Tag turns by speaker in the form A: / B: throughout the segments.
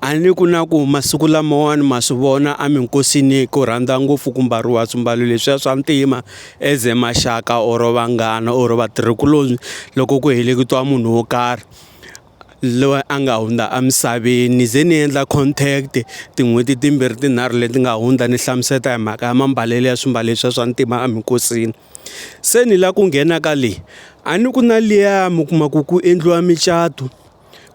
A: A ni ku na ku masiku lamawani ma swi vona a minkosini ku rhandza ngopfu ku mbariwa swimbalo leswiya swa ntima as a maxaka or vanghana or vatirhikuloni loko ku heleketiwa munhu wo karhi loyi a nga hundza emisaveni ni ze ni endla contact tin'hweti timbirhi tinharhu leti nga hundza ni hlamusela hi mhaka ya mambalelo ya swimbalo leswiya swa ntima eminkosini, se ni lava ku nghena ka leyi a ni ku na liya mi kuma ku ku endliwa micato.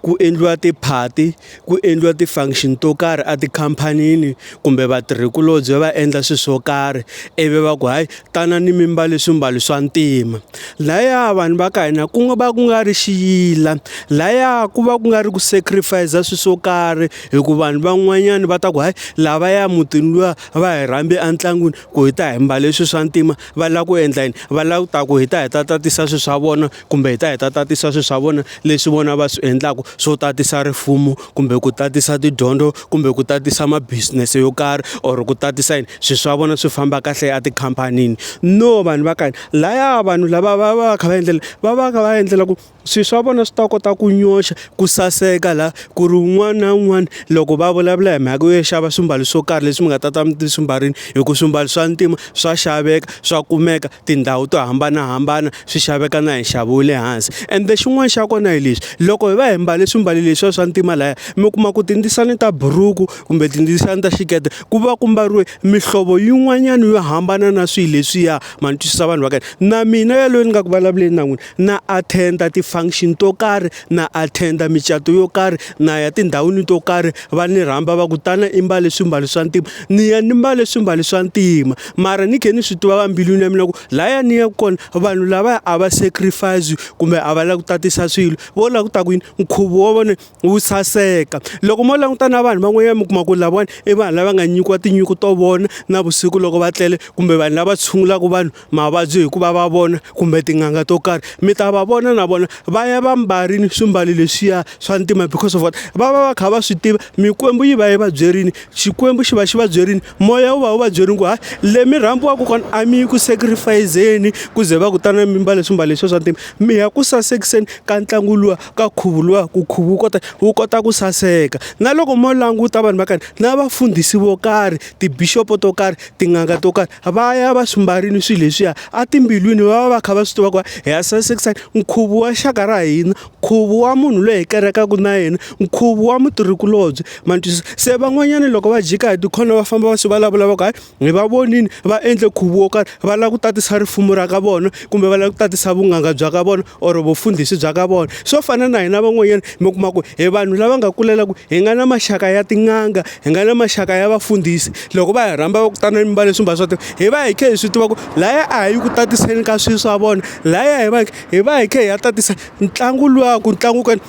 A: ku endliwa tiphati ku endliwa ti-function to karhi a tikhamphanini kumbe vatirhikulobye va endla swilo swo karhi ivi va ku hayi tanani mi mbale swimbalo swa ntima laya vanhu va ka hina ku nga va ku nga ri xiyila laya ku va ku nga ri ku sacrifice swilo swo karhi hi ku vanhu van'wanyana va ta ku hayi lavaya mutini luya va hi rhambi entlangwini ku hi ta hi mbale swilo swa ntima va lava ku endla yini va lava ku ta ku hi ta hi ta tatisa swilo swa vona. kumbe hi ta hi ta tatisa swilo swa vona leswi vona va swi endlaka swo tatisa rifumo kumbe ku tatisa tidyondzo kumbe ku tatisa ma business yo karhi or ku tatisa yini swilo swa vona swi famba kahle a tikhamphanini no vanhu va ka hina laya vanhu lava va va va kha va endlela va va va endlela ku swilo swa vona swi ta kota ku nyoxa ku saseka la ku ri un'wana na un'wana loko va vulavula hi mhaka yo xava swimbalo swo karhi leswi mi nga ta ta mi swi mbarile hi ku swimbalo swa ntima swa xaveka swa kumeka. tindhawu to hambanahambana swi xaveka na hi nxavo wa le hansi ende xin'wana xa kona hi lexi loko hi va hi mbale swimbalo leswiya swa ntima laya mi kuma ku tindzisana ta buruku kumbe tindzisana ta xikete ku va ku mbariwe mihlovo yin'wanyana yo hambana na swilo leswiya ma ni twisisa vanhu va ka hina na mina yaloye ni nga ku vulavuleni na n'wina. na attenda ti-function to karhi na attenda micato yo karhi na ya tindhawini to karhi va ni rhamba va kutana i mbale swimbalo swa ntima ni ya ni mbale swimbalo swa ntima mara ni khe ni swi tiva va mbilwini ya mina ku laya ni yaku kona vanhu lavaya a va sacrifice kumbe a va lava ku tatisa swilo vo lava ku ta ku yini nkhuvo wa vona wu saseka loko mo languta na vanhu van'wanyana mi kuma ku lavawani i vanhu lava nga nyikiwa tinyiko to vona na vusiku loko va tlele kumbe vanhu lava tshungulaka vanhu mavabyi hi ku va va vona kumbe tin'anga to karhi mi ta va vona na vona va ya va mbarile swimbalo leswiya swa ntima because of what va va va kha va swi tiva mikwembu yi va yi va byerile xikwembu xi va xi va byerile moya wu va wu va byerile ku hayi le mi rhambiwaka kona a mi yi ku sacrifice-zeni ku ze va kutana mi mbale swimbalo leswiya swa ntima mi ya ku sasekiseni ka ntlangu luwa ka nkhuvo luwa ku nkhuvo wu kota wu kota ku saseka na loko mo languta vanhu va karhi na vafundhisi vo karhi ti-bishop-o to karhi tin'anga to karhi. va ya va swi mbarile swilo leswiya etimbilwini va va va kha va swi tiva ku hi ya sasekisa nkhuvo wa xaka ra hina nkhuvo wa munhu loyi hi kerekaka na yena nkhuvo wa mutirhikulobye ma twisisa se van'wanyana loko va jika hi tikhona va famba va swi vulavula va ku hayi hi va vonile va endle nkhuvo wo karhi va lava ku tatisa rifumo ra ka vona kumbe va lava ku tatisa vunghanga bya ka vona or vufundhisi bya ka vona swo fana na hina van'wanyana mi kuma ku hi vanhu lava nga kulela ku hi nga na maxaka ya tin'anga hi nga na maxaka ya vafundhisi loko va hi rhamba va kutana ni mba leswi mba swa hi va hi khe hi swi tiva ku laya a hi yi ku tatiseni ka swilo swa vona laya hi va hi va hi khe hi ya tatisa ntlangu luwa ku ntlangu kani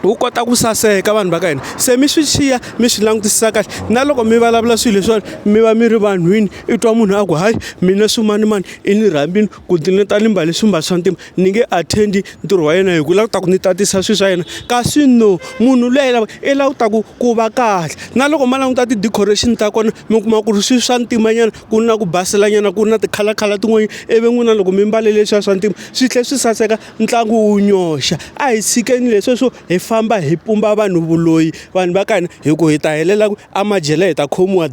A: wu kota ku saseka vanhu va ka hina se mi swi xiya mi swi langutisisa kahle na loko mi vulavula swilo leswiwani mi va mi ri vanhwini i twa munhu a ku hayi mina swimanimani i ni rhambini ku ti ni ta ni mbale swimbalo swa ntima ni nge attend ntirho wa yena hi ku la ku ta ku ni tatisa swilo swa yena kasi no munhu luya i lava i la ku ta ku ku va kahle na loko ma languta ti decoration ta kona mi kuma ku ri swilo swa ntima nyana ku na ku basela nyana ku na ti color color tin'wana i vi n'wina loko mi mbale leswiya swa ntima swi tlhela swi saseka ntlangu wu nyoxa a hi tshikeni leswiya swo hi famba hi pumba vanhu vuloyi vanhu va ka hina hi ku hi ta helela ku a madyele hi ta khomiwa .